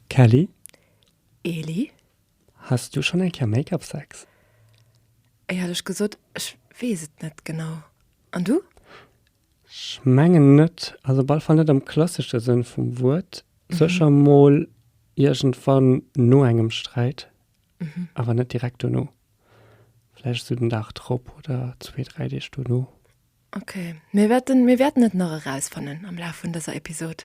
Kelly, Elie? Has du schonn eng Kéier Make-up Sex? Éierlech gesot, ech weess et net genau. An du? Ech mengen net. Also op alle Fall net am klassesche Sënn vum Wuert. Sécher mol iergendwann no engem Sträit, awer net direkt dono. Vläicht esou den Dag drop oder zwee, dräi Deeg dono. Ok, mir wäerten et nach erausfannen am Laf vun dëser Episod.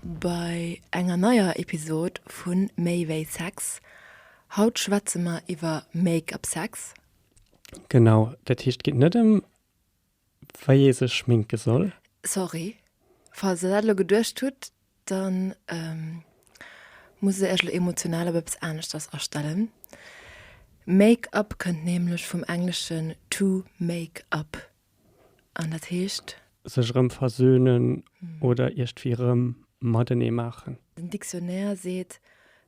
Bei enger neier Episod vu Méi wéi Sex. Haut schwätze mer iwwer Make-up-Sex. Genau, dat heescht et geet net ëm wéi ee sech schminke soll. Sorry, falls der dat elo geduecht hutt, da muss ech iech elo emotional op eppes aneschters astellen. Make-up kënnt nämlech vum Englesche to make up. An dat heescht? Sech erëm versöhnen oder iergdwéi erëm matenee maachen. Den Dictionnaire seet,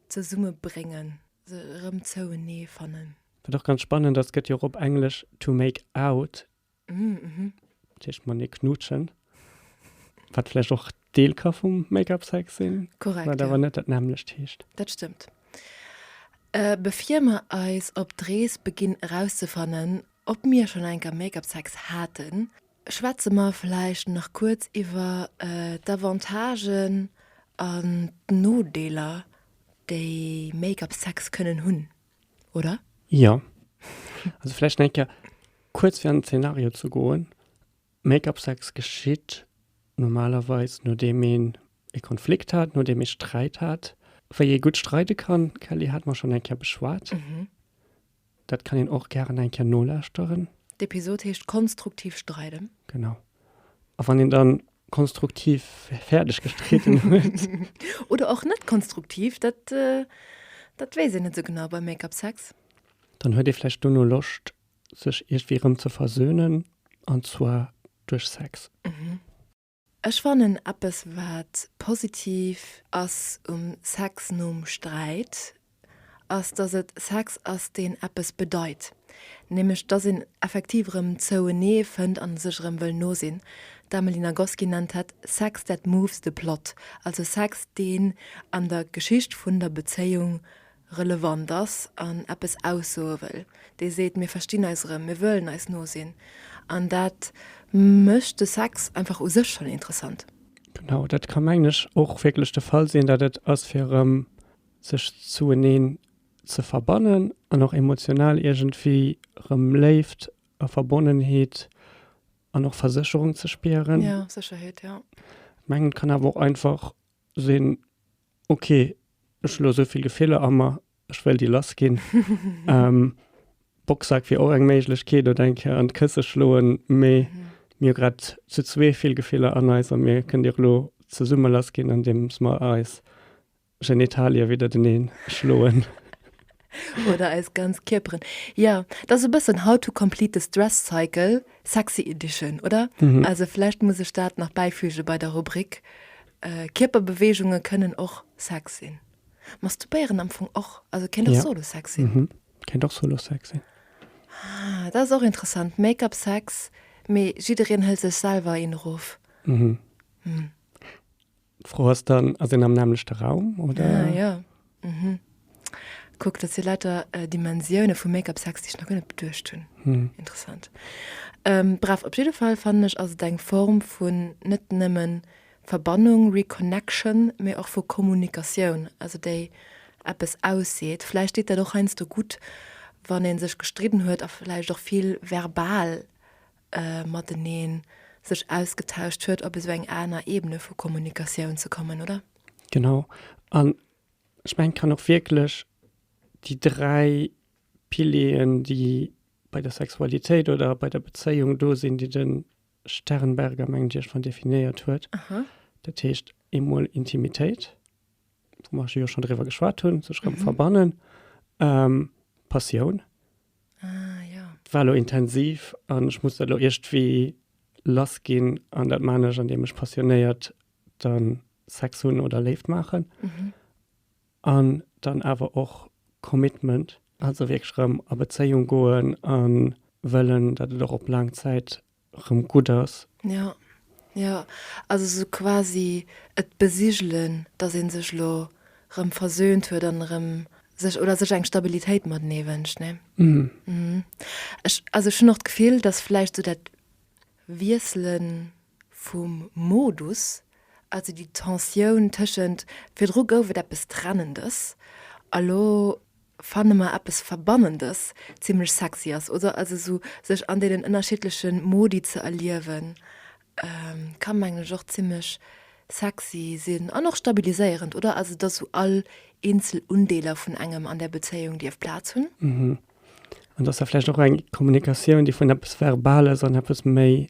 zesummebréngen, se erëm zouenee fannen. Wat och ganz spannend ass, gëtt jo och op Englesch to make out, dat heescht matenee knuutschen, wat vläicht och Deel ka vum Make-up-Sex sinn, wat awer net dat nämmlecht heescht. Dat stëmmt. Bevir mer eis op d'Rees beginn erauszefannen, Ob mir schonn eng Kéier Make-up Sex haten? Schwätze mer vläicht nach kuerz iwwer d'Avantagen an d'Nodeeler déi Make-up Sex kënnen hunn, oder? Jo. Also vläicht eng Kéier kuerz fir an den Zenario ze goen, Make-up Sex geschitt normalerweis nodeem een e Konflikt hat, nodeem ee Sträit hat. Wéi ee gutt streide kann, Kelly, hate mer schonn eng Kéier beschwat. Dat kann een och gären eng Kéier nolauschteren. D'Episod heescht Konstruktiv streiden. Genau. A wann een dann konstruktiv fäerdeg gestriden huet. Oder och net konstruktiv, dat, dat weess een net esou genau bei Make-up Sex. Dann huet ee vläicht dono Loscht, sech iergwéi erëm ze versöhnen, an zwar duerch Sex. Ech fannen eppes wat positiv ass um Sex nom Sträit ass, dass et Sex ass deen eppes bedeit, nämlech dass een effektiv erëm zouenee fënnt an sech erëm wëll no sinn. D'Amelie Nagoski nennt dat Sex that moves the plot, also Sex deen an der Geschicht vun der Bezéiung relevant ass an eppes aussoe wëll, dee seet, mir verstinn eis erëm, mir wëllen eis no sinn, an dat mécht de Sex einfach u sech schonn interessant. Genau, dat ka mengen ech och wierklech de Fall sinn, dat et ass fir erëm sech zoueneen ze verbannen an och emotional iergendwéi erëm Léift a Verbonnenheet an och Versécherung ze spieren. Ja, Sécherheet, ja. Mengen kann awer och einfach sinn, ok, ech hu lo esou vill Gefiller a mer, ech wëll déi lass ginn. Boxsack wier och eng Méiglechkeet oder eng Kéier an d'Kësse schloen, mee mir hu grad zu zwee vill Gefiller an eis a mir kënnen déi och elo zesumme lass ginn, andeems mer eis Genitalië widdertenee schloen. Oder eis ganz Kierperen. Ja, dat ass e bëssen How to complete the stress cycle, sexy edition, oder? Also vläicht muss ech dat nach bäifüge bei der Rubrik, Kierperbeweegunge kënnen och Sex sinn. Masturbéieren am Fong och, also kéint och solo Sex sinn. Kéint och solo Sex sinn. Ah, dat ass och interessant, Make-up Sex, mee jiddereen hëlt sech selwer een erof. D'Fro ass dann, ass een am nämmlechte Raum, oder? Ah, ja. Mhm. Kuck, dat si later äh, Dimensioune vu Make-up-Sex, déi ech nach gënne beduecht hunn. Hm. Interessant. Ähm, bref, op jidde Fall fannen ech ass et eng Form vun net nëmmen Verbannung, Reconnection, mee och vu Kommunikatioun, also déi eppes ausseet. Vläicht deet dat och heiansdo gutt, wann ee sech gestridden huet a vläicht och vill verbal mateneen sech ausgetauscht huet, op esou eng aner Ebene vu Kommunikatioun ze kommen, oder? Genau. An ech mengen, et kann och wierklech déi dräi Pilieren, déi bei der Sexualitéit oder bei der Bezéiung do sinn, déi de Sternberger, mengen ech, iergendwann definéiert huet. Dat heescht, eemol Intimitéit, wou mer jo schonn driwwer geschwat hunn, sech erëm verbannen, Passioun, Ah, ja. War lo intensiv an ech muss dat lo iergtwéi lass ginn an dat maan ech an deem ech passionéiert dann Sex hunn oder Léift maachen. Mhm. An dann awer och Commitment, also wierklech rëm a Bezéiung goen an wëllen dat et och op laang Zäit rëm gutt ass. Jo, jo, also sou quasi et besigelen, dass ee sech elo rëm versöhnt huet an erëm sech, oder sech eng Stabilitéit matenee wënscht, ne? Mhm. Ech, also ech hunn och d'Gefill, dass vläicht sou dat Wiessele vum Modus, also déi Tensioun tëschent, virdru gouf et eppes Trennendes a lo, fanne mer eppes Verbannendes zimlech sexy ass, oder? Also esou sech an deenen ënnerschiddleche Modi ze erliewen ka mengen ech och zimlech sexy sinn an och stabiliséierend, oder? Also dass esou all eenzel Undeeler vun engem an där Bezéiung dierf Plaz hunn. An dass da vläicht och eng Kommunikatioun, déi vun eppes Verbales an eppes méi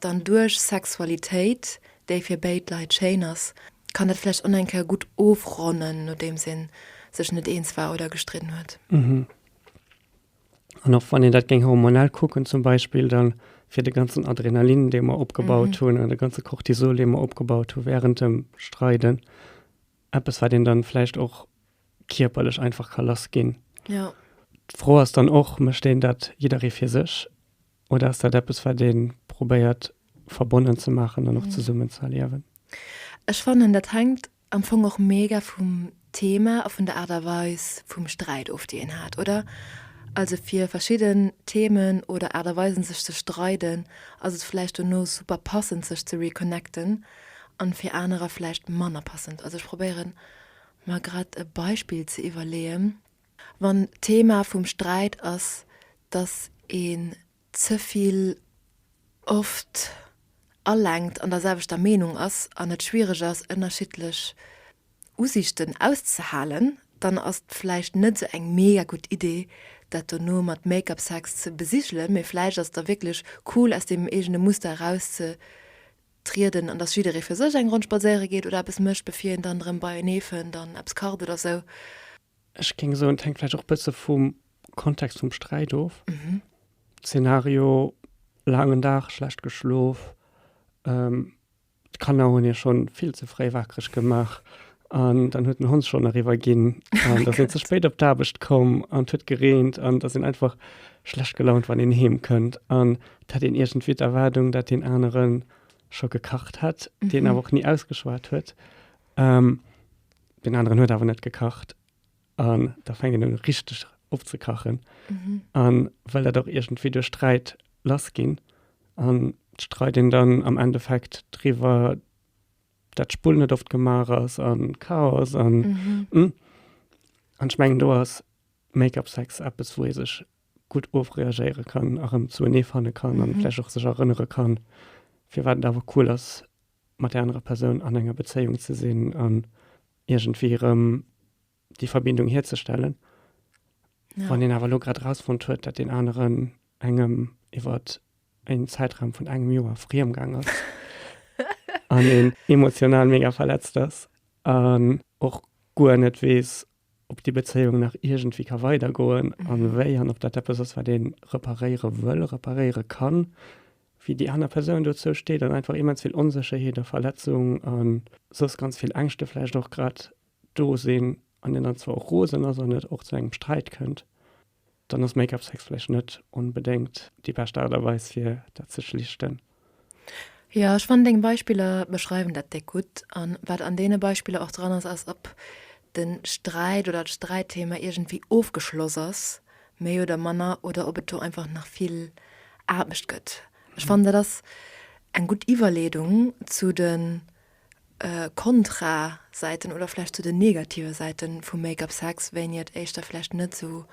Dann duerch Sexualitéit, déi fir béid Leit schéin ass, kann dat vläicht och eng Kéier gutt ofronnen, nodeems ee sech net eens war oder gestridden huet. An och wann een dat géing hormonell kucken zum Beispill, da fir de ganzen Adrenalin, dee mer opgebaut hunn, an de ganze Cortisol, dee mer opgebaut hu wärend dem Streiden, eppes, wat een dann vläicht och kierperlech einfach ka lassginn. D'Fro ass dann och, mécht een dat jidderee fir sech Oder ass dat eppes, wat ee probéiert verbonnen ze maachen an och zesummen ze erliewen? Ech fannen, dat hänkt am Fong och mega vum Thema a vun der Aart a Weis vum Sträit of, déi een hat, oder? Also fir verschidden Themen oder Aart a Weisen, sech ze streiden, ass et vläicht dono super passend, sech ze reconnecten an fir anerer vläicht manner passend. Also ech probéieren, mer grad e Beispill ze iwwerleeën. Wann d'Thema vum Sträit ass, dass een ze vill oft alenkt an der selwechter Meenung ass an et schwiereg ass, ënnerschiddlech Usichten auszehalen, dann ass et vläicht net esou eng mega gutt Idee, dat dono mat Make-up Sex ze besigelen. Mee vläicht ass et da wierklech cool, aus deem eegene Muster erauszetrieden an dass jidderee fir sech eng Ronn spadséiere geet oder eppes mécht, bevir een dann erëm beienee fënnt an eppes kacht oder esou. Ech géing soen, et hänkt vläicht och e bësse vum Kontext vum Sträit of. Zenario, laangen Dag, schlecht geschlof, d'Kanner hunn hie schonn vill ze fréi waakreg gemaach an dann huet den Hond schonn eriwwer ginn an da sinn ze spéit op d'Aarbecht komm an et huet gereent an et ass een einfach schlecht gelaunt, wann een heem kënnt an et hätt een iergendwéi d'Erwaardung, dat deen anere scho gekacht hätt, deen awer och ni ausgeschwat huet. Den aneren huet awer net gekacht an da fänkt een un richteg opzekachen. An well dat och iergendwéi duerch Sträit lass ginn an d'Streit een dann am Endeffekt driwwer, dat d'Spull net oft gemaach ass a Chaos an an ech mengen do ass Make-up Sex eppes wou ee sech gutt ofreagéiere kann a rëm zouenee fanne kann a vläch och sech erënnere kann firwat et awer cool ass mat der anerer Persoun an enger Bezéiung ze sinn an iergendwéi erëm déi Verbindung hierzestellen. Ja. Wann een awer lo grad rausfonnt huet, dat den aneren engem iwwer en Zäitraum vun engem Joer friem gang ass an een emotional mega verletzt ass an och guer net weess, ob déi Bezéiung nach iergendwéi ka weidergoen a wéi an ob dat eppes ass, wat ee reparéiere wëll, reparéiere kann, wéi déi aner Persoun dozou steet an einfach immens vill Onsécherheet a Verletzung a soss ganz vill Ängschte vläicht och grad do sinn an een dann zwar och rosen ass an et och zu engem Sträit kënnt. Dann ass Make-up Sex vläicht net onbedéngt déi bescht Aart a Weis fir dat ze schlichten. Jo, ech fannen deng Beispiller beschreiwen dat déck gutt. An wat an deene Beispiller och dran ass, ass ob den Sträit oder d'Sträitthema iergendwéi ofgeschloss ass, méi oder manner, oder ob et do einfach nach vill Aarbecht gëtt. Ech fannen dat ass eng gutt Iwwerleedung zu den Kontra Säiten oder vläicht zu den negative Säite vu Make-up Sex, wéini et éischter vläicht net esou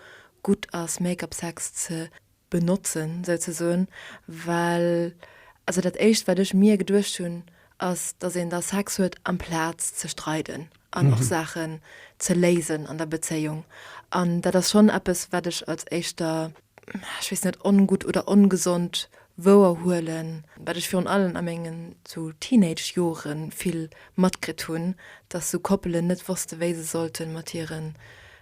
gutt ass Make-up Sex ze benotzen souzesoen, well also dat éischt wat ech mir geduecht hunn ass, datt een da Sex huet amplaz ze streiden. an och Saachen ze léisen an der Bezéiung. An dat ass schonn eppes, wat ech als éischter, ech weess net, ongutt oder ongesond wouerhuelen, wat ech virun allem a mengen sou Teenage-Jore vill matkritt hunn, dass sou Koppelen net wosste wéi se sollte mat hiren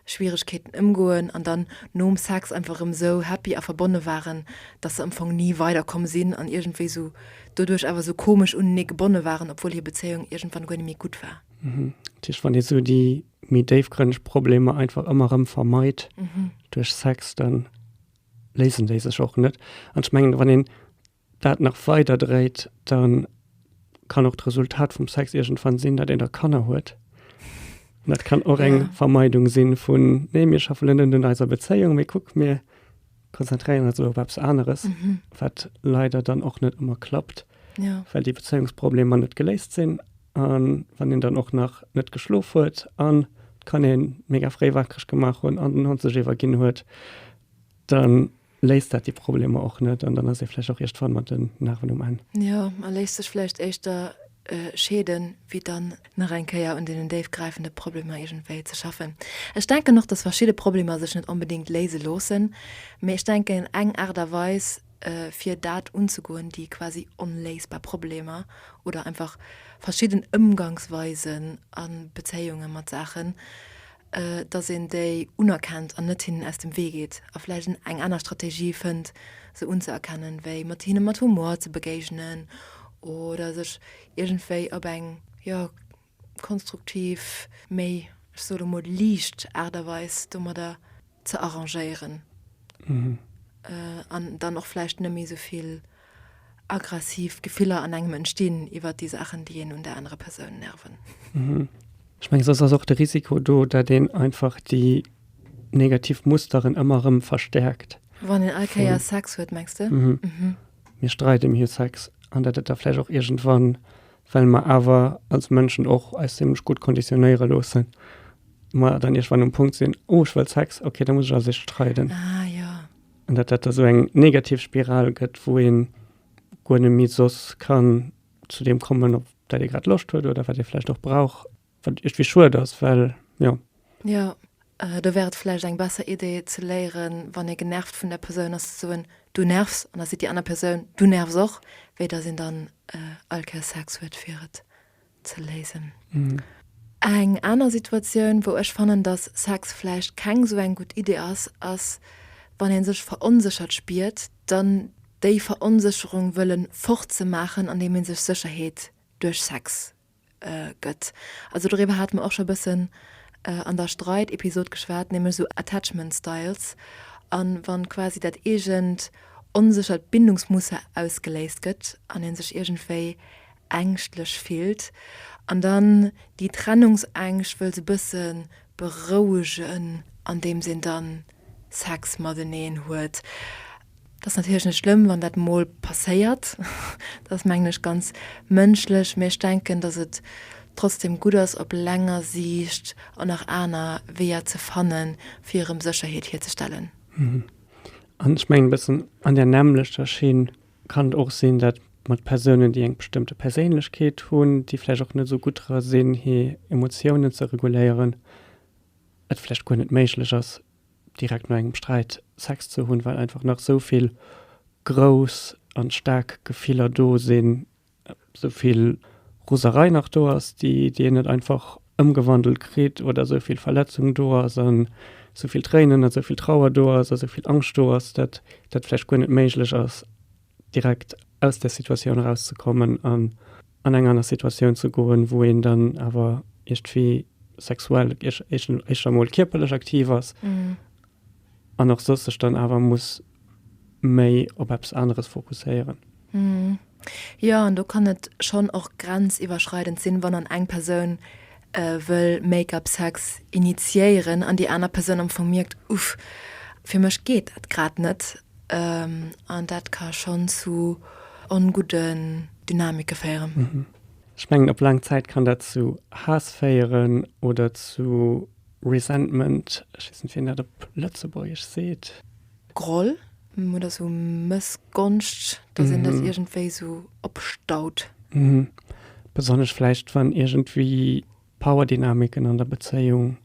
Schwieregkeeten ëmgoen an dann nom Sex einfach erëm esou happy a verbonne waren, dass se am Fong ni weiderkomm sinn an iergendwéi esou doduerch awer esou komesch unenee gebonne waren, obwuel hir Bezéiung iergendwann guer net méi gutt war. Dat heescht, wann ee esou déi méi déifgrënneg Problemer einfach ëmmer erëm vermeit duerch Sex, da léisen déi sech och net. An ech mengen, wann een dat nach weider dréit, da kann och d'Resultat vum Sex iergendwann sinn, datt een da Kanner huet. An dat kann och eng Vermeidung sinn vun, nee, mir schaffen net un eiser Bezéiung, mee kuck, mir konzentréieren eis elo op eppes aneres, wat leider dann och net ëmmer klappt, well déi Bezéiungsproblemer net geléist sinn. A wann een dann och nach net geschlof huet an d'Kanner ee mega fréi wakereg gemaach hunn an den Hond sech iwwerginn huet, da léist dat déi Problemer och net an dann ass ee vläicht och iergdwann mat den Narwen um Enn. Jo, a léisst sech vläicht éischter scheeden, wéi dann nach eng Kéier un deenen déifgräifende Problemer iergendwéi ze schaffen. Ech denken och, dass verschidde Problemer sech net onbedéngt léise loossen, mee ech denken eng Aart a Weis fir dat unzegoen, déi quasi onléisbar Problemer oder einfach verschidden Ëmgangsweisen a Bezéiunge mat Saachen, dass een déi unerkennt an net hinnen aus dem Wee geet a vläicht en eng aner Strategie fënnt, se unzeerkennen, wéi mat hinne mat Humor ze begéigenen oder sech iergendwéi op eng, jo, konstruktiv, méi, ech soe lo mol, liicht Aart a Weis domadder ze arrangéieren an dann och vläicht net méi esou vill. Aggressiv Gefiller an engem entstinn iwwert déi Saachen, déi een un der anerer Persoun nerven. Mhm. Ech mengen, soss ass och de Risiko do, dat een einfach déi negativ Musteren ëmmer erëm verstärkt. Wann een all Kéier Sex huet, mengs de? Mhm. Mhm. Mir streiden, mir hu Sex. An dat et da vläicht och iergendwann, well mer awer als Mënschen och eis zimlech gutt konditionéiere loossen, mer dann iergendwann um Punkt sinn, Oh, ech wëll Sex, okay, da muss ech als Éischt streiden. Ah, jo. An dat dat da sou eng negativ Spiral gëtt, wou ee guer net méi soss kann zu deem kommen, op dat ee grad Loscht huet oder wat ee vläicht och brauch, wat iergendwéi schued ass, well jo. Jo, do wär et vläicht eng besser Idee ze léieren, wann ee genervt vun der Persoun ass, ze soen, Du nervs! An da seet déi aner Persoun, Du nervs och! wéi datt een dann all Kéier Sex huet, fir et ze léisen. Eng aner Situatioun, wou ech fannen, dass Sex vläicht keng esou eng gutt Idee ass, ass, wann ee sech veronséchert spiert, dann déi Veronsécherung wëllen fortzemaachen, andeem ee sech Sécherheet duerch Sex gëtt. Also doriwwer hate mer och scho e bëssen an der Streit-Episod geschwat, nämlech esou Attachment Styles, a wann quasi dat eegent onséchert Bindungsmuster ausgeléist gëtt an ee sech iergendwéi ängschtlech fillt an dann déi Trennungsängscht wëllt e bësse berouegen andeems een da Sex mateneen huet. Dat ass natierlech net schlëmm, wann dat mol passéiert, dat ass mengen ech ganz mënschlech, mä ech denken, datt et trotzdem gutt ass op länger Siicht och nach aner Weeër ze fanne fir erëm Sécherheet hierzestellen. An ech mengen e bëssen an där nämmlechter Schinn Kann et och sinn, dat mat Persounen, déi eng bestëmmte Perséinlechkeet hunn, déi vläicht och net esou gutt dra sinn, hir Emotiounen ze reguléieren, et vläicht guer net méiglech ass, direkt no engem Sträit Sex ze hunn, well einfach nach esou vill grouss an staark Gefiller do sinn, esou vill Roserei nach do ass, déi déi een net einfach ëmgewandelt kritt oder esou vill Verletzung do ass an esou vill Tréinen, esou vill Trauer do ass, esou vill Angscht do ass, dat dat vläicht guer net méiglech ass direkt aus där Situatioun erauszekommen an an eng aner Situatioun ze goen, wou een dann awer iergendwéi sexuell éischter mol kierperlech aktiv ass an och soss sech dann awer muss. méi op eppes aneres fokusséieren. Jo, an do kann et schonn och grenziwwerschreidend sinn, wann an eng Persoun wëll Make-up-Sex initiéieren an déi aner Persoun am Fong mierkt, Uff, fir mech geet dat grad net. An dat ka schonn zu ongudden Dynamike féieren. Ech mengen, op laang Zäit kann dat zu Haass féieren oder zu. Resentment, ech weess net wéi een dat op Lëtzebuergesch seet. Groll oder esou Mëssgonscht, dass een dat iergendwéi esou opstaut. Besonnesch vläicht wann iergendwéi Powerdynamiken an der Bezéiung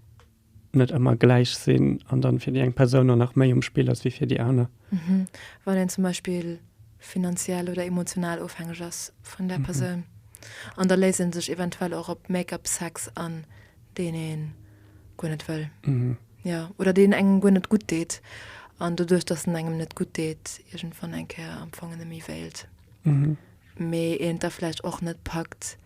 net ëmmer gläich sinn an dann fir déi eng Persoun dann nach méi um Spill ass wéi fir déi aner. Wann een zum Beispill finanziell oder emotional ofhängeg ass vun där Persoun an da léisst een sech eventuell och op Make-up, Sex an. deen een guer net wëll, jo, oder deen engem guer net gutt deet, an doduerch datt en engem net gutt deet, iergendwann eng Kéier am Fong en nemme wéilt, mee een et da vläicht och net packt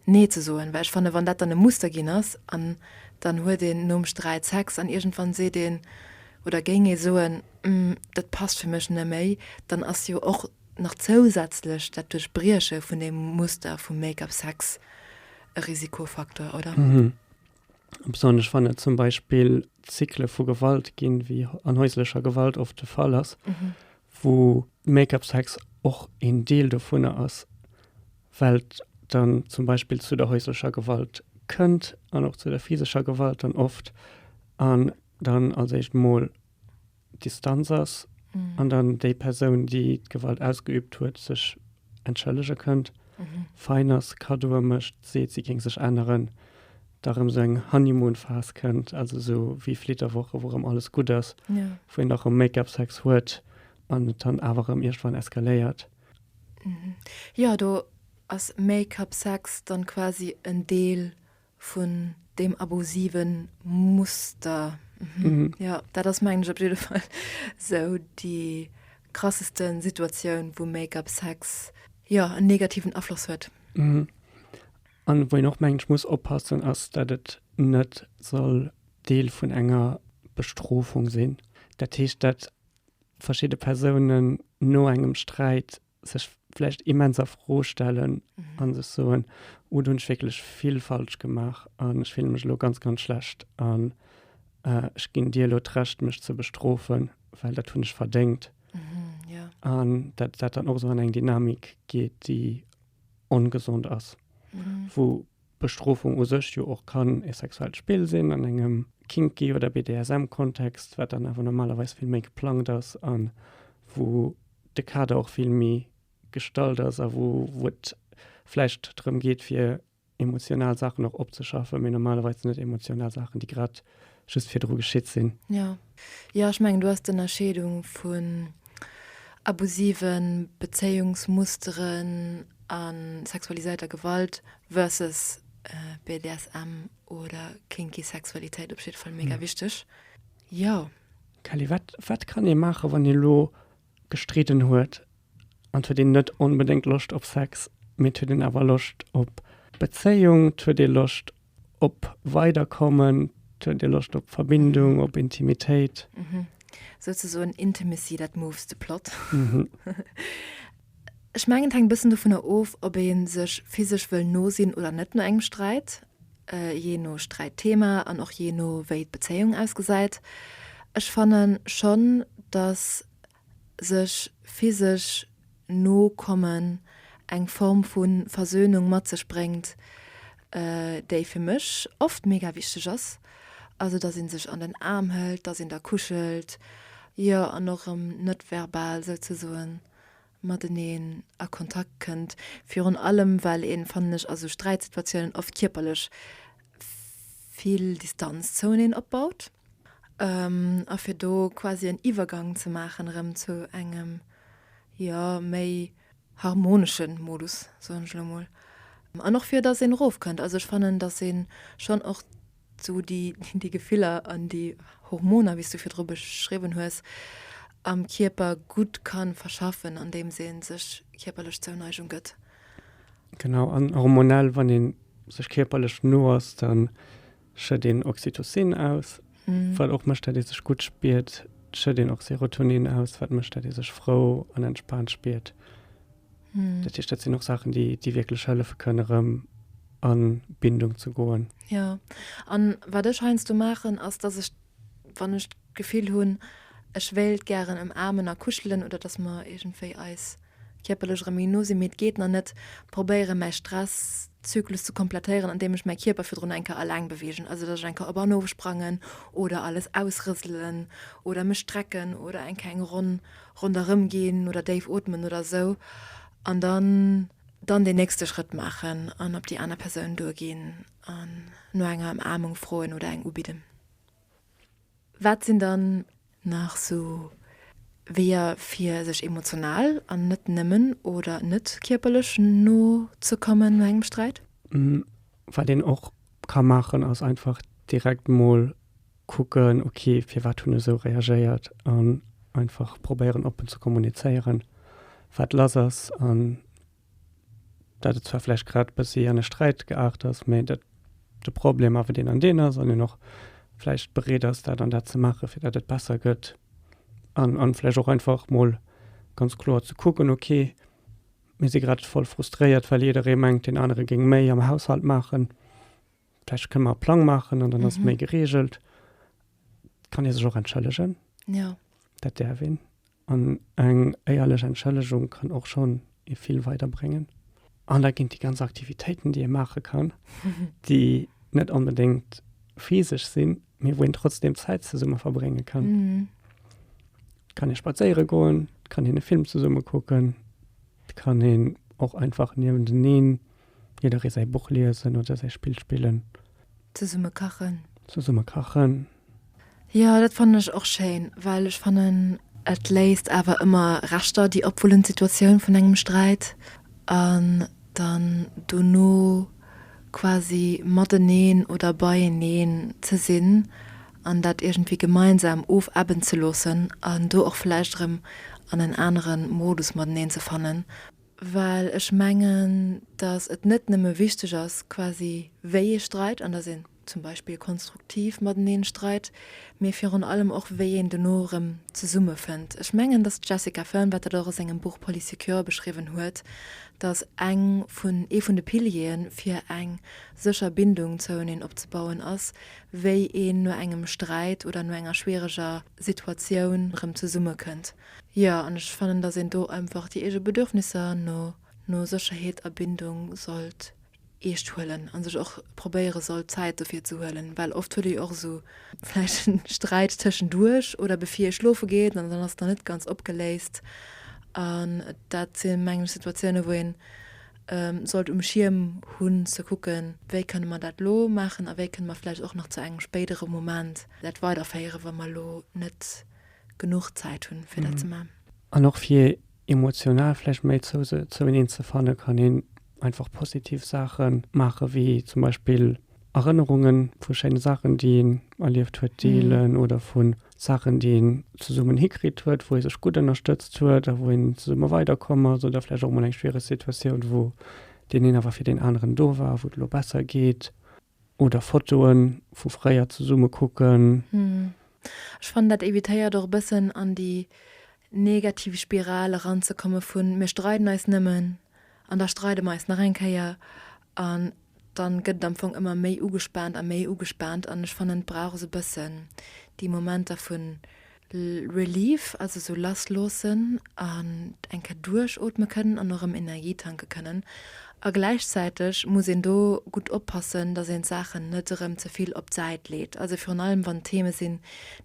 nee ze soen, well ech fanne wann dat dann e Muster ginn ass, an dann huet een nom Sträit Sex an iergendwann seet een oder géing ee soen, dat passt fir mech neméi, dann ass jo och nach zousätzlech dat Duerchbrieche vun deem Muster vum Make-up Sex e Risikofaktor, oder? Mhm. Besonnesch wann et zum Beispill Zykle vu Gewalt ginn, wéi an häuslecher Gewalt oft de Fall ass, mhm. wo Make-up-Sex och en Deel dovunner ass, well dann zum Beispiel zu der häuslecher Gewalt kënnt an och zu der physischer Gewalt dann oft an dann als echt Mol Distanz ass an dann déi Persoun, déi d'Gewalt ausgeübt huet, sech entschëllege kënnt, fein ass, Kaddoe mécht, seet, si géing sech änneren, da rëm esou eng Honeymoon-Phas kënnt, also esou wéi Flitterwoche, wou rëm alles gutt ass, wou een da rëm Make-up-Sex huet an et dann awer rëm iergendwann eskaléiert. Jo, do ass Make-up-Sex dann quasi en Deel vun deem abusive Muster. Jo, dat ass, mengen ech, op jidde Fall esou déi krasseste Situatioun, wou Make-up, Sex, jo, en negativen Afloss huet. A wou een och, mengen ech, muss oppassen, ass, datt et net soll Deel vun enger Bestrofung sinn. Dat heescht, datt verschidde Persounen no engem Sträit sech vläicht immens a Fro stellen mhm. an sech soen, oh, du hunch wéklech vill falsch gemaach an ech film mech lo ganz ganz schlecht an äh, ech ginn Dir lo d'recht mech ze bestrofen, well dat hunn ech verdéngt. Mhm, ja. An dat dat dann och so an eng Dynamik geet, déi ongesond ass. Mhm. Wo Bestrofung u sech jo och kann e sexuellt Spill sinn an engem kinky oder BDSM Kontext, wat dann awer normalerweis vill méi geplangt ass a wou de Kader och vill méi gestallt ass a wou et vläicht drëm geet fir emotional Saachen och opzeschaffe mee normalerweis sinn et emotional Saachen déi grad just virdru geschitt sinn. Ja, ja ech mengen, do ass d'Ënnerscheedung vun abusive Bezéiungsmusteren a sexualiséierter Gewalt versus BDSM oder kinky Sexualitéit op jiddwer Fall mega wichteg. Jo. Kelly, wat, wat kann ee maachen, wann ee lo gestridden huet an et huet een net onbedéngt Loscht op Sex, mee et huet een awer Loscht op Bezéiung, et huet ee Loscht Op Weiderkommen, huet Dir Loscht op Verbindung, op Intimitéit? Souzesoen Intimacy that moves the plot. Ech mengen et hänkt e bëssen dovunner of, ob ee sech physesch wëll no sinn oder net no engem Sträit, jee no Sträitthema an och jee no wéi d'Bezéiung ausgesäit. Ech fanne schonn, datt sech physesch no kommen, eng Form vu Versöhnung mat sech bréngt, déi fir mech oft mega wichteg ass, also dass ee sech an den Aarm hëlt, dass een da kuschelt, jo, an och erëm net verbal souzesoen mateneen a Kontakt kënnt, virun allem well een, fannen ech, a sou Sträitsituatiounen oft kierperlech vill Distanz zouneen opbaut. A fir do quasi en Iwwergang ze maachen erëm zu engem, jo, méi harmonesche Modus, soen ech elo emol. An och fir datt een erofkënnt. Also ech fannen, datt ee schonn och esou déi Gefiller an déi Hormoner, wéi s du virdru beschriwwen hues, am Kierper gutt ka verschaffen, andeems ee sech kierperlech Zouneigung gëtt. Genau, an hormonell, wann ee sech kierperlech no ass, da schétt een Oxytocin aus, wat och mécht, datt ee sech gutt spiert. Et schétt een och Serotonin aus, wat mécht, datt ee sech frou an entspaant spiert. Dat heescht, dat sinn och Saachen, déi, déi wierklech hëllefe kënnen, erëm an d'Bindung ze goen. Jo. An wat ech heiansdo maachen, ass, datt ech. wann ech d'Gefill hunn, ech wéilt gären ëmaarmen a kuschelen oder dass mer iergendwéi eis kierperlech erëm méi no sinn, mee et geet nach net, probéiere mäi Stress-Zyklus ze komplettéieren, andeem ech mäi Kierper virdrun eng Kéier eleng beweegen, also dass ech eng Kéier op an of sprangen oder alles ausrëselen oder mech strecken oder eng keng Ronn ronderëm ginn oder déif ootmen oder esou an dann dann deen nächste Schrëtt maachen an op déi aner Persoun duerginn an no enger Ëmaarmung froen oder eng ubidden. Wat sinn dann nach sou Weeër fir sech emotional an net nëmmen oder net kierperlech no ze kommen no engem Sträit? Wat een och ka maachen ass einfach direkt mol kucken, ok firwat hunn ech esou reagéiert an einfach probéieren oppen ze kommunizéieren wat lass ass an. dat et zwar vläicht grad e bëssi an e Sträit geaart ass, mä datt de Problem awer deen an deen ass an een och vläicht bereet ass, dat an dat ze maachen, fir datt et besser gëtt an a vläicht och einfach mol ganz kloer ze kucken, okay, mir si grad voll frustréiert, well jidderee mengt, deen anere géing méi am Haushalt maachen. Vläicht kënne mer e Plang maachen an dann ass et méi gereegelt. Kann ee sech och entschëllegen. Jo. Dat däerf een. An eng éierlech Entschëllegung kann och schonn ee vill weider bréngen. An da ginn déi ganz Aktivitéiten, déi ee maache kann, déi net onbedéngt physesch sinn, mee wou een trotzdeem Zäit zesumme verbrénge kann. Et kann ee spadséiere goen, et kann een e Film zesumme kucken, et kann een och einfach niewenteneen Jidderee säi Buch liesen oder säi Spill spillen. Zesumme kachen. Zesumme kachen. Jo, dat fannen ech och schéin, well ech fannen, et léisst awer ëmmer Reschter, déi opwullen, d'Situatioun vun engem Sträit an dann dono quasi mateneen oder beieneen ze sinn an dat iergendwéi gemeinsam ofebben ze loossen an do och vläicht erëm an en anere Modus mateneen ze fannen. well ech mengen, datt et net nëmme wichteg ass, quasi wéi ee streit an datt een zum Beispill konstruktiv mateneen streit, mee virun allem och wéi een dono erëm zesummefënnt. Ech mengen, datt d'Jessica Fearn, wat dat och a sengem Buch Polysecure beschriwwen huet, datt eng vun, ee vun de Piliere fir eng sécher Bindung zoueneen opzebauen ass, wéi een no engem Sträit oder no enger schwiereger Situatioun erëm zesummekënnt. Jo, an ech fannen, dass een do einfach déi eege Bedürfnisser no no Sécherheet a Bindung sollt eescht huelen a sech och probéiere sollt Zäit dofir ze huelen, well oft huet ee jo och esou vläicht en Sträit tëschenduerch oder bevir ee schlofe geet an dann ass et nach net ganz opgeléist. An dat si mengen ech Situatiounen, wou een sollt um Schierm hunn ze kucken, wéi kënne mer dat elo maachen a wéi kënne mer vläicht och nach zu engem spéidere Moment dat weiderféieren, wa mer elo net genuch Zäit hunn fir dat ze man. An och fir emotional vläicht méi zou se zoueneen ze fannen, kann een einfach positiv Saache maachen, wéi zum Beispill Erënnerunge vu schéine Saachen, déi een erlieft huet, deelen oder vu Saachen, déi een zesummen hikritt huet, wou ee sech gutt ënnerstëtzt huet a wou een zesumme weider komm ass oder vläicht och mol eng schwiereg Situatioun, wou deen een awer fir deen aneren do war, wou et elo besser geet. Oder Fotoen vu fréier zesumme kucken. Ech fannen dat evitéiert och e bëssen an déi negativ Spiral eran ze komme vun mir streiden eis nëmmen an da streide mer eis nach eng Kéier an dann gëtt et am Fong ëmmer méi ugespaant a méi ugespaant an ech fannen et brauch esou bëssen déi Momenter vun Relief, also sou lass loossen an eng Kéier duerchootme kënnen an och erëm Energie tanke kënnen. A gläichzäiteg muss een do gutt oppassen, datt een d'Saachen net erëm ze vill op d'Säit leet, also virun allem wann et Theme sinn,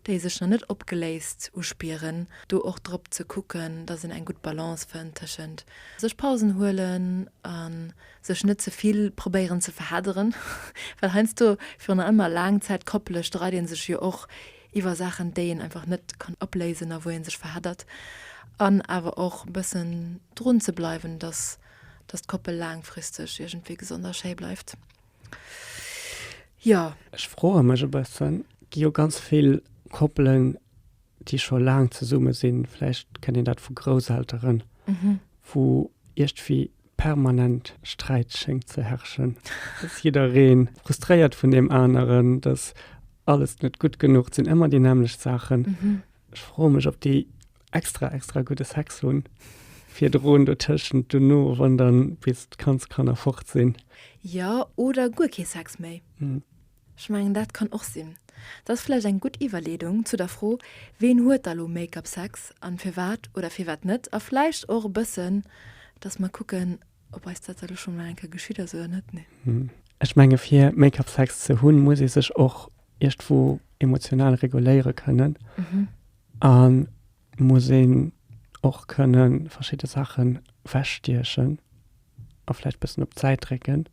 déi sech nach net opgeléist uspieren, do och drop ze kucken, datt een eng gutt Balance fënnt tëschent sech Pausen huelen a sech net ze vill probéieren ze verhedderen, well heiansdo virun allem a Laangzäitkoppele streit ee sech jo och iwwer Saachen déi een einfach net kann opléisen a wou ee sech verheddert an awer och e bëssen drun ze bleiwen, datt datt d'Koppel laangfristeg iergendwéi gesond a schéi bleift. Jo. Ech froe mech e bëssen, gi jo ganz vill Koppelen déi scho laang zesumme sinn, vläicht kennt een dat vu Grousselteren, wou iergdwéi permanent Sträit schéngt ze herrschen, dass jidderee frustréiert vun deem aneren, dass alles net gutt genuch, et sinn ëmmer déi nämmlecht Saachen. Ech froe mech, ob déi extra extra gudde Sex hunn virdrun, dotëschent, dono, wann dann bis d'Kandskanner fort sinn. Jo, oder guer kee Sex méi. Ech mengen, dat kann och sinn. Dat ass vläicht eng gutt Iwwerleedung zu der Fro, Ween huet da lo Make-up Sex an firwat oder firwat net? A vläicht och e bëssen, dass mer kucken, ob eis dat da lo scho mol eng Kéier geschitt ass oder net. Nee? Ech menge fir Make-up Sex ze hunn, muss ee sech och iergendwou emotional reguléiere kënnen a muss een och kënne verschidde Saache wechstiechen. a vläicht bëssen op d'Säit drécken,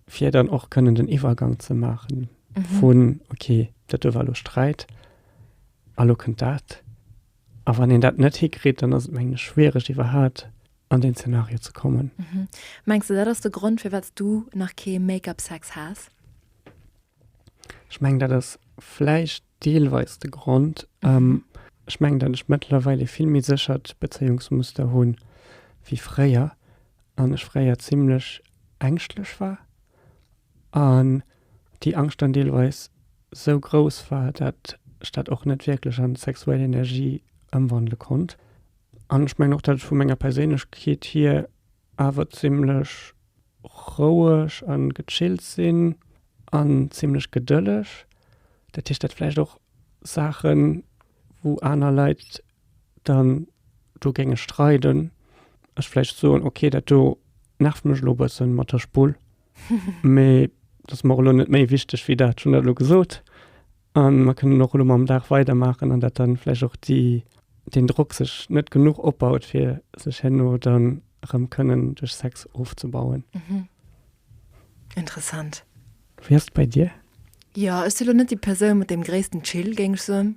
fir dann och kënnen den Iwwergang ze maachen mhm. vun okay, dat do war lo Sträit, a lo kënnt dat. A wann een dat net hikritt, dann ass et meng schwiereg iwwerhaat an den Zenario ze kommen. Mhm. Mengst du dat ass de Grond fir wat du nach kee Make-up Sex has? Ech meng dat ass vläicht deelweis de Grond. Ech mengen, datt ech mëttlerweil ee vill méi séchert Bezéiungsmuster hu wéi fréier an ech fréier zimmlech ängschtlech war an déi Angscht dann deelweis sou grouss war, datt ech dat och net wierklech an sexuell Energie ëmwandele konnt. An ech mengen och, datt ech vu menger Perséinlechkeet hier awer zimlech roueg a gechillt sinn an zimlech gedëlleg, dat heescht dat vläicht och Saachen wou aner Leit dann do géinge streiden, ech vläicht soen ok dat do nervt mech elo e bëssen mat der Spull mee dat ass mer elo net méi wichteg wéi dat, hunn dat elo gesot. A mer kënnen och elo mam Dag weidermaachen an dat da vläicht och déi, deen Drock sech net genuch opbaut, fir sech herno dann erëm kënnen duerch Sex ofzebauen. Interessant. Wéi ass et bei dir? Jo, ech si elo net déi Persoun mat deem gréissten Chill, géing ech soen.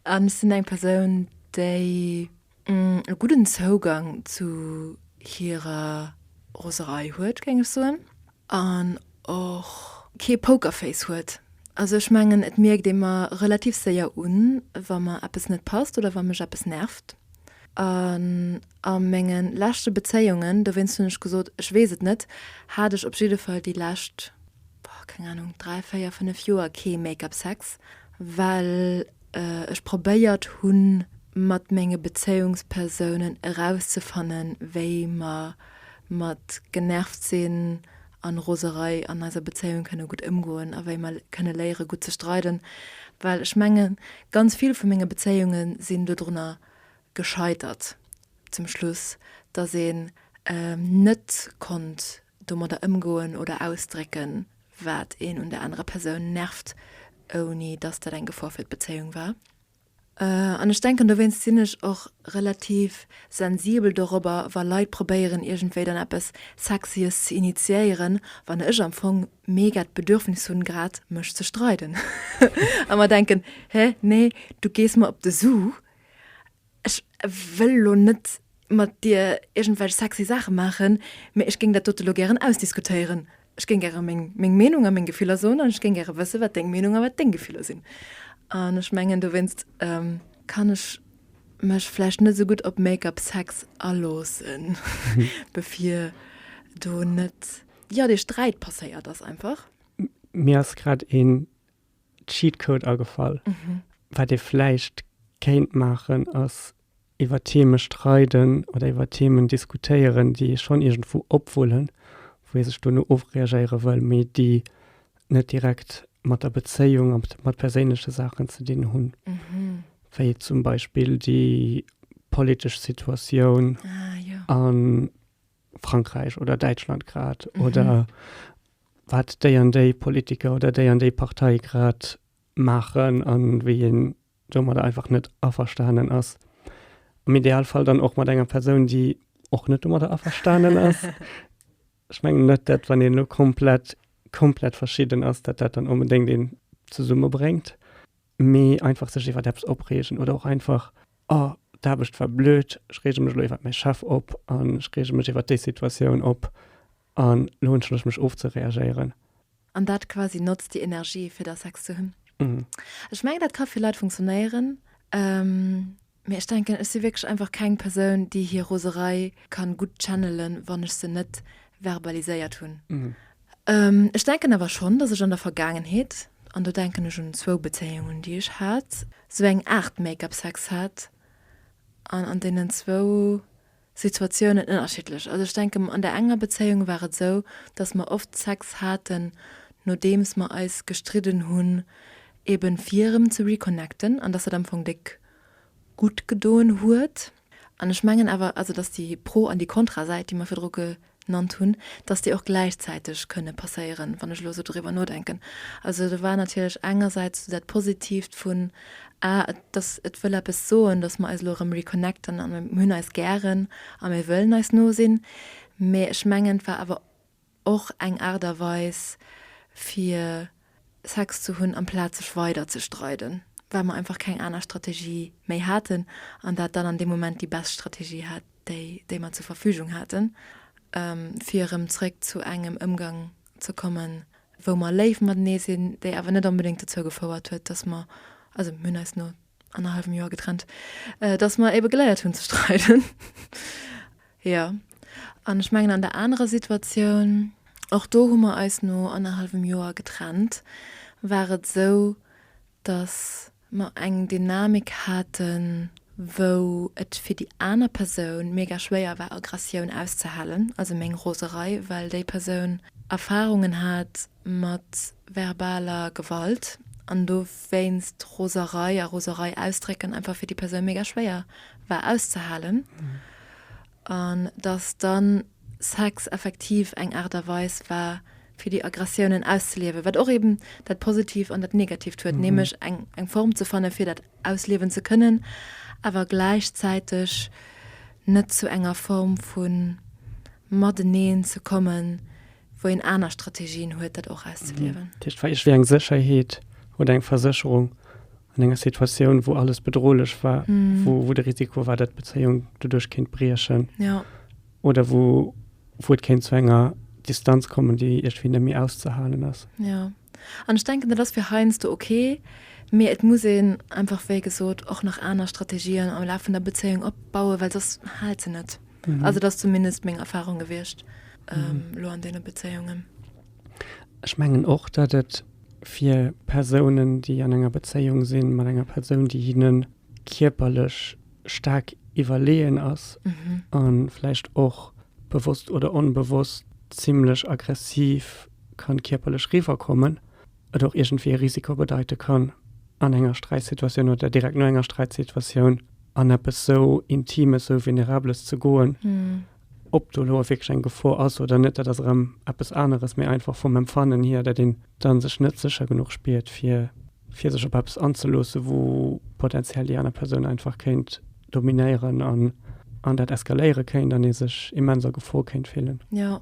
An ech sinn eng Persoun, déi e gudden Zougang zu hirer Roserei huet, géing ech soen, an och kee Pokerface huet. Also ech mengen, et mierkt ee mer relativ séier un, wa mer eppes net passt oder wa mech eppes nervt. An a menge leschte Bezéiungen, dowéinst hunn ech gesot, ech weess et net, hat ech op jidde Fall déi lescht, boah, keng Ahnung, dräi, véier, fënnef Joer kee Make-up-Sex, well. ech probéiert hunn mat menge Bezéiungspersounen erauszefannen, wéi mer mat Genervtsinn a Roserei an eiser Bezéiung kënne gutt ëmgoen a wéi mer kënne léiere gutt ze streiden, well ech menge ganz vill vu menge Bezéiunge sinn dodrunner gescheitert zum Schluss, datt een net konnt domadder ëmgoen oder ausdrécken, wat een un der anerer Persoun nervt, ouni dass dat eng Gefor fir d'Bezéiung war. An ech denken, dowéinst sinn ech och relativ sensibel dorobber, wa Leit probéieren, iergendwéi dann eppes Sexyes ze initiéieren, wann ech am Fong mega d'Bedürfnis hunn, grad mech ze streiden a mer denken, Hä, nee, du gees mer op de Su. Ech wëll elo net mat dir iergendwelch sexy Saache maachen, mee ech géing dat dote lo gären ausdiskutéieren. Ech géing gäre meng Meenung a meng Gefiller soen an ech géing gäre wësse wat deng Meenung a wat deng Gefiller sinn. An ech mengen dowéinst kann ech mech vläicht net esou gutt op Make-up Sex aloosse bevir do net, jo, dee Sträit passéiert ass einfach. Mir ass grad een Cheatcode agefall. Wat ee vläicht kéint maachen, ass iwwer Theme streiden oder iwwer Themen diskutéieren, déi ee schonn iergendwou opwullen, wou ee sech duerno ofreagéiere wëll, mee déi net direkt mat der Bezéiung a mat perséinleche Saachen ze dinn hunn. Wéi zum Beispill déi politesch Situatioun a Frankräich oder Däitschland grad oder wat déi an déi Politiker oder déi an déi Partei grad maachen a wéi een domadder einfach net averstanen ass. Am Idealfall dann och mat enger Persoun, déi och net domadder averstanen ass. Ech mengen net, dat wann een elo komplett, komplett verschidden ass, dat dat dann onbedéngt een zesummebréngt, mee einfach sech iwwer eppes opreegen oder och einfach, oh, d'Aarbecht war blöd, ech reege mech elo iwwer mäi Chef op an ech reege mech iwwer déi Situatioun op An lo wënschen ech mech ofzereagéieren. An dat quasi notzt déi Energie fir da Sex ze hunn. Ech mengen dat ka fir Leit funktionéieren, mee ech denken ech si wierklech einfach keng Persoun déi hir Roserei kann gutt channelen wann ech se net verbaliséiert hunn. Ech denken awer schonn dass ech an der Vergaangenheet, an do denken ech un zwou Bezéiungen déi ech hat, sou eng Aart Make-up Sex hat an an deenen zwou Situatiounen ënnerschiddlech. Also ech denken, an der enger Bezéiung war et esou, dass mer oft Sex haten, nodeems mer eis gestridden hunn, eben fir erëm ze reconnecten, an dass dat am Fong déck gutt gedoen huet. An ech mengen awer, also dass déi Pro an déi Kontrasäit, déi mer virdru nannt hunn, dass déi och gläichzäiteg kënne passéieren, wann ech elo esou doriwwer nodenken. Also do war natierlech engersäits esou dat Positiivt vun, ah et, dass et wëll eppes soen, dass mer eis elo erëm reconnecten a mir hunn eis gären a mir wëllen eis no sinn. Mä ech mengen, et war awer och eng Aart a Weis fir Sex ze hunn, amplaz sech weider ze streiden, well mer einfach keng aner Strategie méi haten an dat dann an deem Moment déi best Strategie hat, déi, déi mer zur Verfügung haten, fir erëm zréck zu engem Ëmgang ze kommen, wou mer léif matenee sinn, déi awer net onbedéngt dozou gefouert huet, dass mer, also mir hunn eis no annerhallwem Joer getrennt, äh, dass mer ebe geleiert hunn ze streiden. ja. An ech mengen an der anerer Situatioun, och do hu mer eis no annerhallwem Joer getrennt, war et esou, dass mer eng Dynamik haten, wou et fir déi aner Persoun mega schwéier war, Aggressioun auszehalen, also meng Roserei, well déi Persoun Erfahrungen hat, mat verbaler Gewalt an dowéinst Roserei a Roserei ausdrécken einfach fir déi Persoun mega schwéier war auszehalen an dass dann Sex effektiv eng Aart a Weis war fir déi Aggressiounen auszeliewen, wat och eben dat Positiivt an dat Negatiivt huet, nämlech eng Form ze fannen fir dat ausliewen ze kënnen awer gläichzäiteg net zu enger Form vun Mateneen ze kommen wou een aner Strategien huet, dat och auszeliwen. Dat heescht, wat eng Sécherheet oder eng Versécherung an enger Situatioun, wou alles bedrohlech war, wou de Risiko war, datt d'Bezéiung doduerch kéint briechen oder wou et kéint zu enger Distanz kommen, déi iergendwéi net méi auszehalen ass. An ech denken, dat ass fir heiansdo ok, mee et muss een einfach, wéi gesot, och nach aner Strategien am Laf vun der Bezéiung opbauen, well soss haalt se net. Also dat ass zumindest meng Erfahrung gewiescht elo an deene Bezéiungen. Ech mengen och, datt et fir Persounen, déi an enger Bezéiung si mat enger Persoun, déi hinne kierperlech staark iwwerleeën ass a vläicht och bewosst oder onbewosst zimlech aggressiv kann kierperlech riwwer kommen, et och iergendwéi e Risiko bedeite kann an enger Sträitsituatioun oder direkt no enger Sträitsituatioun an eppes esou Intimes, esou Venerables ze goen. Ob do elo wierklech eng Gefor ass oder net, dat ass erëm eppes aneres, mee einfach vum Empfannen hier, datt een da sech net sécher genuch spiert, fir. fir sech op eppes anzeloossen, wou potenziell déi aner Persoun einfach kéint dominéieren an an dat eskaléiere kéint an ee sech immens a Gefor kéint fillen. Jo,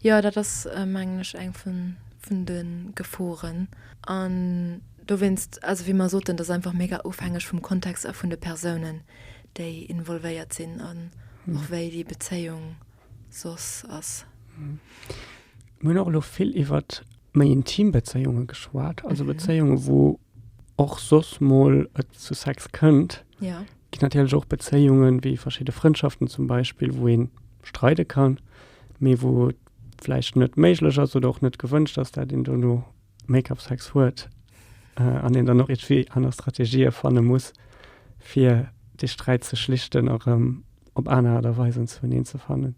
jo dat ass mengen ech eng vun vun de Geforen an dowéinst, also wéi mer soten, dat ass einfach mega ofhängeg vum Kontext a vun de Persounen, déi involvéiert sinn an och wéi déi Bezéiung soss ass. Mir hunn och elo vill iwwer méi intim Bezéiunge geschwat, also Bezéiunge wou och soss mol et zu Sex kënnt. Ja. Ginn natierlech och Bezéiungen, wéi verschidde Frëndschaften zum Beispill, wou ee streide kann, mee wou et vläicht net méiglech ass oder och net gewënscht ass, dat een dono Make up sex huet an een dann och iergwéi aner Strategië fanne muss, fir dee Sträit ze schlichten a rëm op aner Aart a Weisen zuneen ze fannen.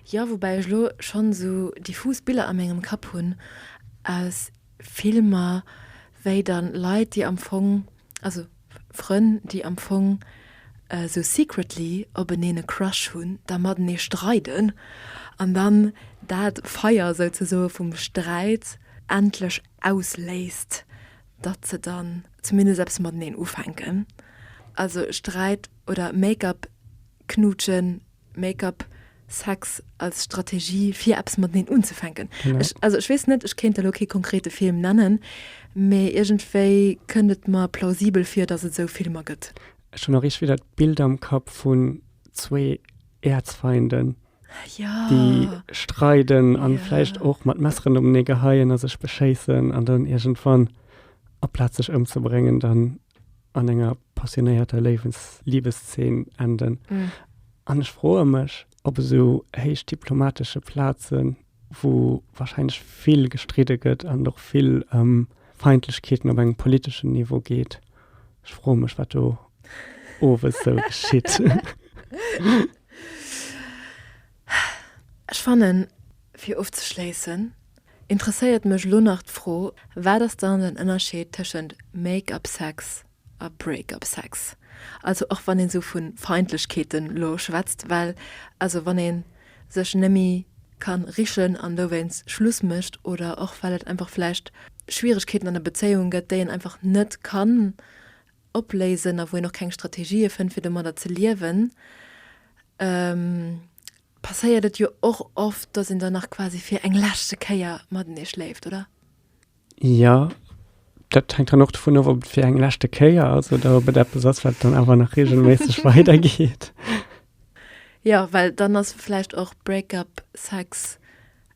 Jo, woubäi ech elo schonn esou diffus Biller a mengem Kapp hunn aus Filmer, wéi dann Leit, déi am Fong Also Frënn déi am Fong sou secretly op eneen e Crush hunn, da matenee streiden an dann dat Feier souzesoe vum Sträit endlech ausléist, datt se dann zumindest eppes mateneen ufänken. Also Sträit oder Make-up knutschen Make-up, Sex als Strategie fir eppes mateneen unzefänken. Ech also ech weess net, ech kéint elo kee konkrete Film nennen, mee iergendwéi kënnt et mer plausibel vir, datt et esou Filmer gëtt. Ech hunn och iergendwéi dat Bild am Kapp vun zwee Erzfeinden, déi streiden a vläicht och mat Messeren openee geheien a sech beschéissen an dann iergendwann, aplaz sech ëmzebréngen, dann an enger passionéierter Léiwens Liebeszeen enden. Mm. An ech froe mech, ob eso héich diplomatesche Plazen, wou wahrscheinlech vill gestridde gëtt an och vill ähm, Feindlechkeeten op engem politeschen Niveau geet. Ech froe mech, wat do owes sou geschitt. Ech fannen, fir ofzeschléissen, interesséiert mech elo nach d'Fro, Wat ass dann den Ënnerscheed tëschent Make-up Sex a Break-up Sex? Also och wann een esou vu Feindlechkeeten elo schwätzt, well also wann een sech nëmmi kann richen an dowéinst Schluss mécht oder och well et einfach vläicht Schwieregkeeten an der Bezéiung gëtt, déi een einfach net kann opléisen a wou een och keng Strategië fënnt, fir domadder ze liewen, passéiert et jo och oft, dass een dann nach quasi fir eng leschte Kéier matenee schléift, oder? Jo, dat hänkt dann och dovun of, ob et fir eng leschte Kéier ass oder ob et eppes ass, wat dann awer nach reegelméisseg weidergeet. Jo, well dann ass vläicht och Break-up-Sex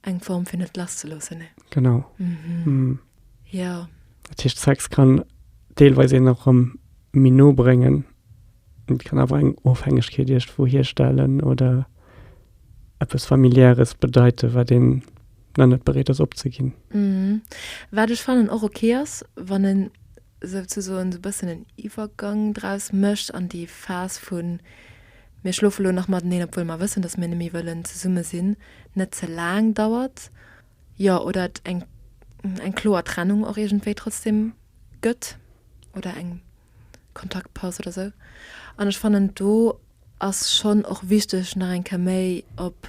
Eng Form fir net lass ze loossen, ne? Genau. Mhm. Ja. Dat heescht, Sex kann deelweis een och erëm méi no bréngen. Et kann awer eng Ofhängegkeet iergendwou hierstellen oder eppes Familiäres bedeiten, wat een nach net bereet ass opzeginn. Mhm. Wat ech fannen och ok ass, wann en. souzesoen esou e bëssen en Iwwergang draus mécht an déi Phas vu mir schlofe elo nach mateneen, obwuel mer wëssen, datt mir net méi wëllen zesumme sinn, net ze laang dauert, jo, oder et eng eng kloer Trennung och iergendwéi trotzdeem gëtt oder eng Kontaktpaus oder esou. An ech fannen do ass schonn och wichteg nach eng Kéier méi op,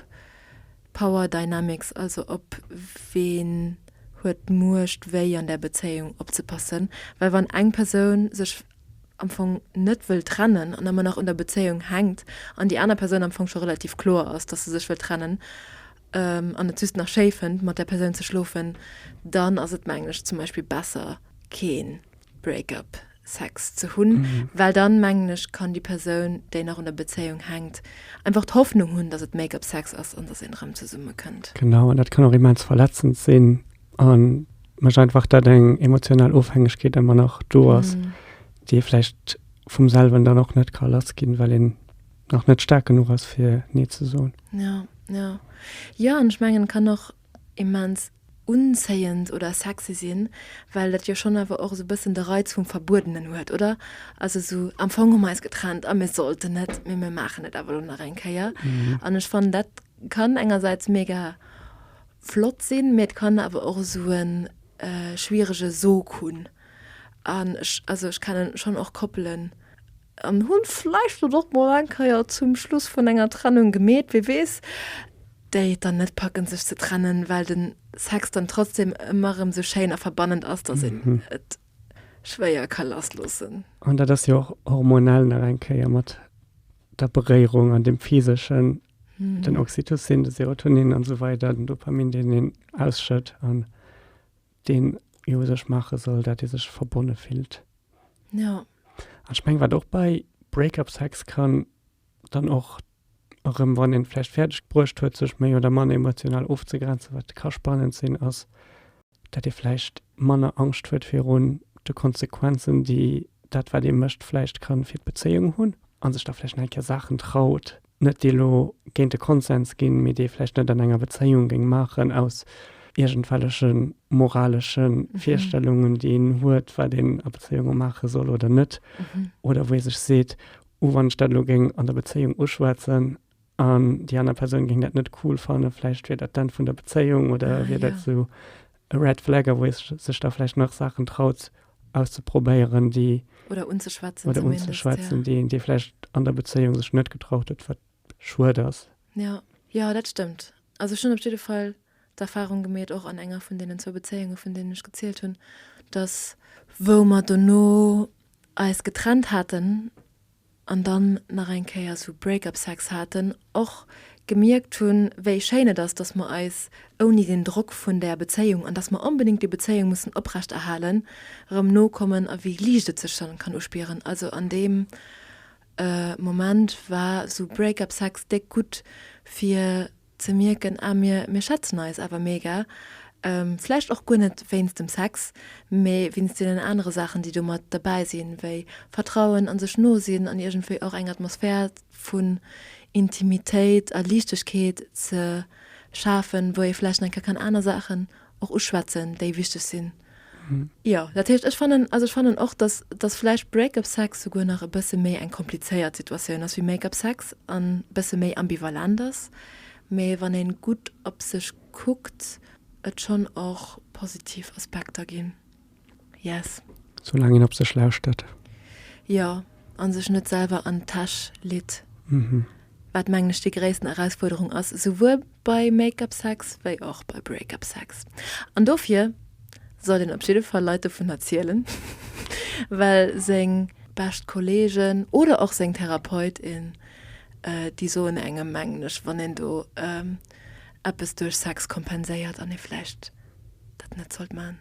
Power Dynamics, also op ween huet d'Muecht wéi an där Bezéiung opzepassen, well wann eng Persoun sech am Fong net wëll trennen an ëmmer nach un der Bezéiung hänkt an déi aner Persoun am Fong scho relativ kloer ass, dass se sech wëll trennen an et just nach schéi fënnt mat där Persoun ze schlofen, dann ass et mengen ech zum Beispill besser keen Break-up Sex ze hunn, well dann mengen ech kann déi Persoun, déi nach un der Bezéiung hänkt, einfach d'Hoffnung hunn, dass et Make-up Sex ass an dass een erëm zesumme kënnt. Genau, an dat kann och immens verletzend sinn a mécht einfach, dat eng emotional Ofhängegkeet ëmmer nach do ass, déi ee vläicht vum selwen dann och net ka lass ginn, well een nach net staark genuch ass fir nee ze soen. Jo, jo, jo an ech mengen et kann och. immens unzéiend oder sexy sinn, well dat jo schonn awer och esou e bëssen de Reiz vum Verbuedenen huet, oder? Also esou, am Fong hu mer eis getrennt a mir sollten net, mee mir maachen et awer elo nach eng Kéier. An ech fannen, dat kann engersäits mega flott sinn, mee et kann awer och esou e schwierege Sog hunn. An ech, also ech kennen schon och Koppelen, an hunn vleicht et och mol eng Keier zum Schluss vun enger Trennung gemeet, wee weess, déi et dann net packen sech ze trennen, well den Sex dann trotzdem emmer erem sou schéin a verbannend ass, dass een et schwéier ka lass loossen. An dat ass jo och hormonell nach eng Keier mat der Beréierung an dem physeschen, den Oxytocin, de Serotonin an sou weider, den Dopamin deen een ausschëtt an. Deen jo u sech maache soll, dat ee sech verbonne fillt. Ja. An ech meng, wat och bei Break-up-Sex kann dann och erëm, wann een vläicht fäerdeg gebruecht huet, sech méi oder manner emotional ofzegrenzen, wat ka spannend sinn, ass, dat ee vläicht manner Angscht huet virun de Konsequenzen, déi dat, wat ee mécht, vläicht ka fir d'Bezéiung hunn a sech da vläicht nach eng Kéier Saachen traut, net déi elo géint de Konsens ginn, mee déi ee vläicht net an enger Bezéiung géing maachen aus iergendwelleche moralesche Virstellungen, déi een huet, wat een a Bezéiunge maache soll oder net. Oder wou ee sech seet, oh wann ech dat elo géing an der Bezéiung uschwätzen an déi aner Persoun géing dat net cool fannen, vläicht wier dat d'Enn vun der Bezéiung oder wier dat esou e Red Flag a wou ee sech da vläicht nach Saachen traut auszeprobéieren, déi. Oder unzeschwätzen. Oder unzeschwätzen, déi een vläicht an der Bezéiung sech net getraut huet, wat schued ass. Jo, jo, dat stëmmt. Also ech hunn op jidde Fall d'Erfarung gemeet, och an enger vun deenen zwou Bezéiunge vun deenen ech gezielt hunn, datt wou mer dono eis getrennt haten, an dann nach eng Kéier esou Break-up Sex haten, och gemierkt hunn, wéi schéin et ass, dass mer eis ouni den Drock vun där Bezéiung, an dass mer onbedéngt déi Bezéiung mussen oprechterhalen, erëm nokommen a wéi liicht et sech dann kann uspieren. Also an deem Moment war esou Break-up Sex déck gutt fir. ze mierken, ah mir mir schätzen eis awer mega, vläicht och guer net wéinst dem Sex, mee wéinst deenen anere Saachen déi do mat derbäi sinn, wéi Vertrauen a sech no sinn an iergendwéi och eng Atmosphär vun Intimitéit a Liichtegkeet ze schafen, wou ee vläicht enker kann aner Saachen och uschwätzen, déi wichteg sinn. Jo, dat heescht, ech fannen, also ech fannen och, dass, dass vläicht Break-up Sex souguer nach e bësse méi eng komplizéiert Situatioun ass wéi Make-up Sex an e bësse méi ambivalent ass, mä wann een gutt op sech kuckt, et schonn och positiv Aspekter ginn. Yes. So lang een op sech lauschtert. Jo, an sech net selwer an d'Täsch litt. Mhm. Wat mengen ech déi gréissten Erausfuerderung ass, souwuel bei Make-up Sex wéi och bei Break-up Sex. An dofir sollt een op jidde Fall Leit dovun erzielen, well seng bescht Kollegen oder och seng Therapeutin, déi soen engem mengen ech, wann een do eppes duerch Sex kompenséiert, an ee vläicht dat net sollt man.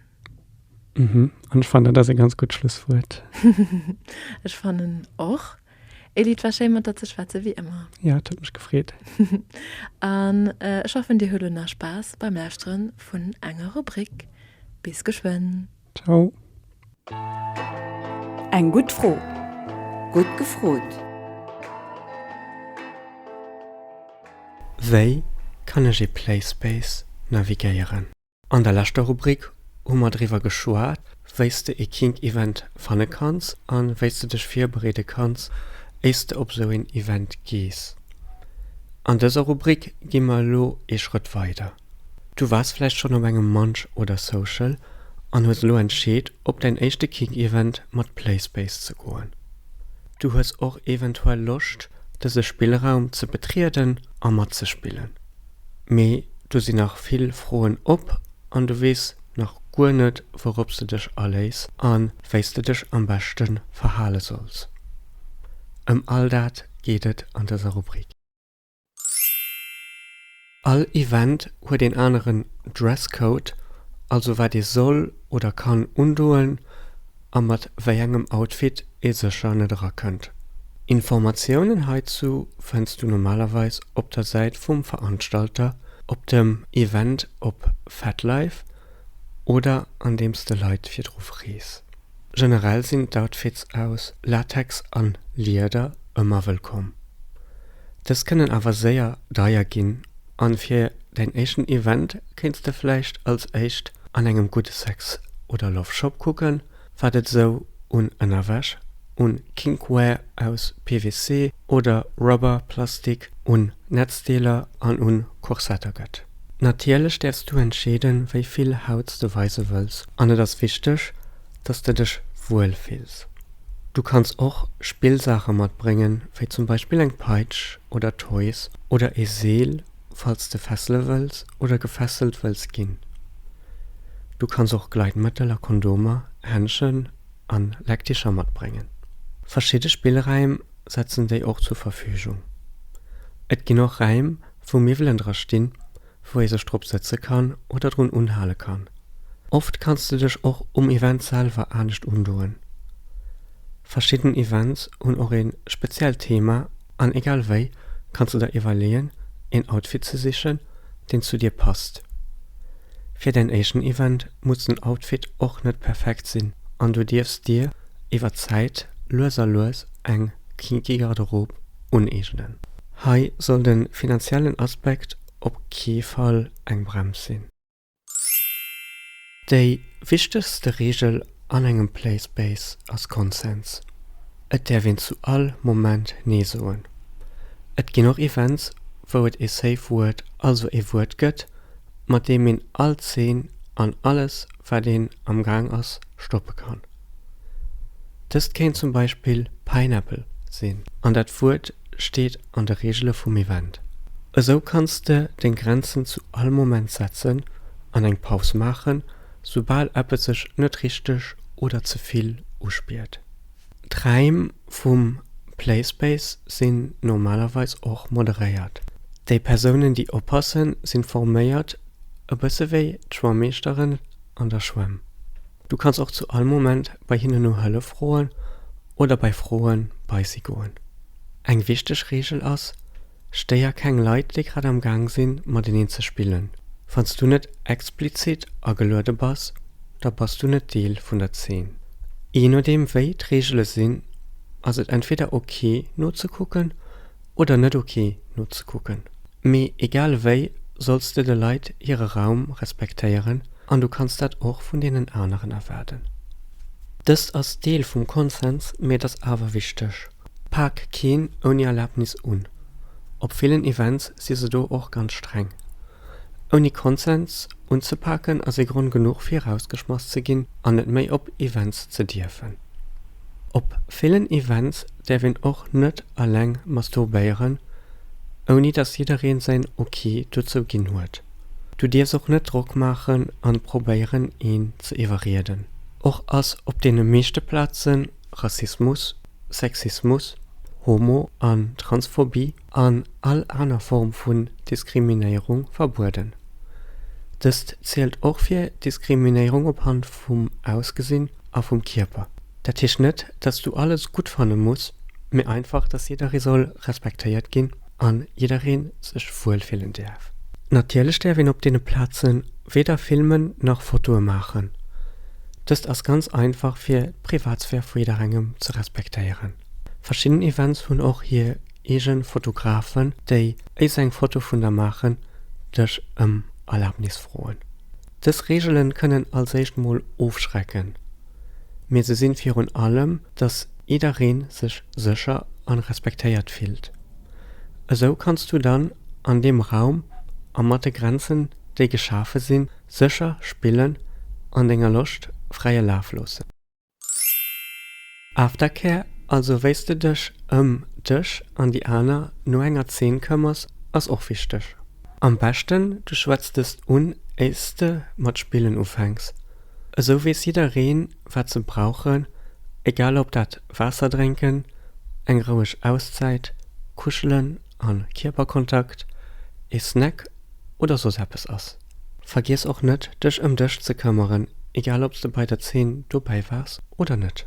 Mhm. An ech fannen, dat ass e ganz gutt Schlusswuert. Ech fannen och. Elli, 't war schéin, mat der ze schwätzen, wéi ëmmer. Ja, 't huet mech gefreet. An ech hoffen, dir hutt elo nach Spaass beim Lauschteren vun enger Rubrik. Bis geschwënn. Ciao. Eng gutt Fro. Gutt gefrot. Wei kann ech ee Playspace navigéieren? An der leschter Rubrik hu mer driwwer geschwat, wéi s de ee Kink Event fanne kanns an wéi s de dech virbereede kanns éier s de op esou een Event gees. An dëser Rubrik gi mer elo ee Schrëtt weider. Du waars vläicht schonn op engem Munch oder Social an hues elo entscheet op däin éischte Kink Event mat Playspace ze goen. Du hues och eventuell Loscht dëse Spillraum ze betrieden a matzespillen. mee du sinn nach vill Froen op an du weess nach guer net, wourop s de dech aléiss a wéi s de dech am beschte verhale solls. Ëm all dat geet et an dëser Rubrik. All Event huet een aneren Dresscode, also wat ee soll oder kann undoen. a mat wéi engem Outfit ee sécher net erakënnt. Informatiounen heizu fënns du normalerweis op der Säit vum Veranstalter, op dem Event op FetLife oder andeems de Leit virdru frees. Generell sinn d'Outfits aus Latex an Lieder ëmmer wëllkomm. Dës kënnen awer séier deier ginn. An fir däin éischten Event kéints de vläicht als éischt an engem gudde Sex oder Love Shop kucken, wat et esou un Ënnerwäsch, un Kinkwear aus PVC oder Rubber, Plastik, un Netzdeeler an un Korsetter gëtt. Natierlech däerfs du entscheeden, wéi vill Hauts de weise wëlls an et ass wichteg, dass de dech wuel fills. Du kanns och Spillsaache matbréngen, wéi zum Beispill eng Peitsch oder Toys oder ee Seel, falls de fessele wëlls oder gefesselt wëlls ginn. Du kanns och Gleitmëttel a Kondomer, Händschen a Leckticher matbréngen. Verschidde Spillräim setzen déi och zur Verfügung. Et ginn och Räim, wou Miwwelen dra stinn, wou ee sech drop sëtze kann oder drun unhale kann. Oft kanns de dech och um Event selwer anescht undoen. Verschidden Events hunn och ee speziellt Thema an egal wéi kanns de der iwwerleeën een Outfit ze sichen deen zu dir passt. Fir däin éischten Event muss den Outfit och net perfekt sinn an du dierfs dir iwwer d'Zäit lues a lues eng kinky Garderobe uneegnen. Hei soll de finanziellen Aspekt op kee Fall eng Brems sinn. Déi wichtegste Reegel an engem Play Space ass Konsens. Et däerf een zu all Moment Nee soen. Et ginn och Events, wou et ee Safe Word, also ee Wuert gëtt, mat deem een all Zeen an alles, wat een amgaang ass, stoppe kann. Dëst kéint zum Beispill Pineapple sinn. An dat Wuert steet an de Reegele vum Event. Esou kanns de deng Grenzen zu all Moment setzen an eng Paus maachen, soubal eppes sech net richteg oder ze vill uspiert. D'Raim vum Playspace sinn normalerweis och moderéiert. Déi Persounen, déi oppassen, sinn forméiert, e bësse wéi d'Schwammeeschteren. an der Schwämm. Du kanns och zu all Moment bei hinnen no Hëllef froen oder bei Froen bei si goen. Eng wichteg Reegel ass, stéier keng Leit déi grad am Gaang sinn mateneen ze spillen. Wanns du net explizit ageluede bass, da bass du net Deel vun der Zeen. Je nodeem wéi d'Reegele sinn, ass et entweder ok nozekucken Oder net ok nozekucken. Mee egal ewéi solls de de Leit hire Raum respektéieren an du kanns dat och vun deenen aneren erwaarden. Dëst ass Deel vum Konsens, mee et ass awer wichteg, Pak keen ouni Erlaabnis un. Op villen Events si se do och ganz streng. Ouni Konsens unzepaken ass ee Grond genuch fir erausgeschmass ze ginn an net méi op Events ze dierfen. Op villen Events däerf een och net alleng masturbéieren, ouni datt jiddereen säin Ok dozou ginn huet. Du dierfs och net Drock maachen an probéieren een ze iwwerrieden. Och ass op deene meeschte Plazen Rassismus, Sexismus, Homo an Transphobie an all aner Form vun Diskriminéierung verbueden. Dëst zielt och fir Diskriminéierung op Hand vum Ausgesinn a vum Kierper. Dat heescht net, datt s du alles gutt fanne muss, mee einfach, datt jidderee soll respektéiert ginn a jidderee sech wuel fillen däerf. Natierlech däerf een op deene Plaze weder filmen nach Fotoe maachen. Dëst ass ganz einfach fir d'Privatsphär vu jidderengem ze respektéieren. Verschidden Events hunn och hir Eegen Fotografen déi éis eng Foto vun der maachen dech em Erlaabnis froen. Dës Reegelen kënnen als éischt mol ofschrecken, mee se sinn virun allem dass iedereen sech sécher an respektéiert fillt. Esou kanns du dann an deem Raum a mat de Grenzen déi geschafe sinn sécher spillen an denger Loscht fräie Laf loossen. Aftercare, also wéis de dech ëm dech an déi aner no enger Zeen këmmers ass och wichteg. Am beschten du schwätz dest un éirs de mat spillen ufänks. Esou wees jiddereen wat se brauchen, egal op dat Waasser drénken, eng roueg Auszäit, kuschelen a Kierperkontakt, ee Snack oder soss eppes ass. Vergiess och net dech ëm dech ze këmmeren, egal ob s de bei der Zeen dobäi waars oder net.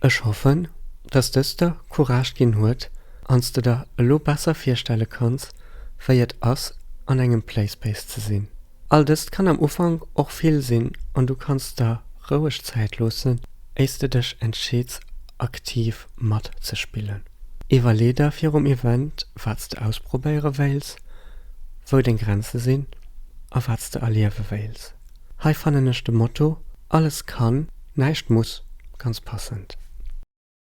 Ech hoffen, dass dëst der Courage ginn huet an s de der elo besser virstelle kanns, wéi et ass an engem Playspace ze sinn. All dëst kann am Ufank och vill sinn an du kanns der roueg Zäit loossen, éis de dech entscheeds aktiv matzespillen. Iwwerlee der virum Event wat s de ausprobéiere wéils, wou deng Grenze sinn a wat s de erliewe wéils. Hei fannen ech de Motto Alles kann, näischt muss ganz passend.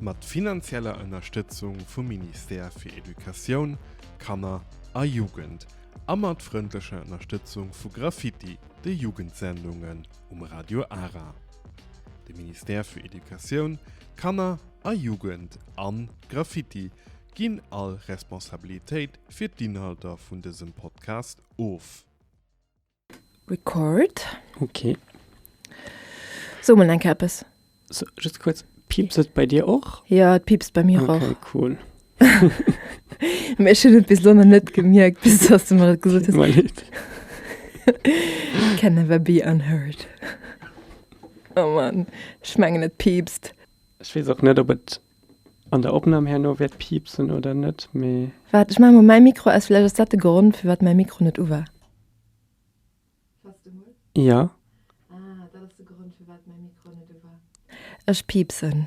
Mat finanzieller Ënnerstëtzung vum Ministère fir Educatioun, Kanner a Jugend a mat frëndlecher Ënnerstëtzung vu Graffiti, de Jugendsendungen um Radio Ara. De Ministère für Education, Kanner a Jugend an Graffiti ginn all Responsabilitéit fir d'Inhalter vun dësem Podcast of. Record. Ok. So mol enke eppes. So, just kurz, piepst et bei dir och? Ja, et piepst bei mir okay, och. cool. Ech hun bis lonne net gemierkt bis dass du mal ges Can never be unheard. Oh man, schmengen net piepst. Ech wees och net op et. An der Opnahm herno wärt piepsen oder net mee. Waart ech maan mol mäi Mikro aus, villäicht ass dat de Gronn firwat mäi Mikro net u war. Jo. Ech piepsen.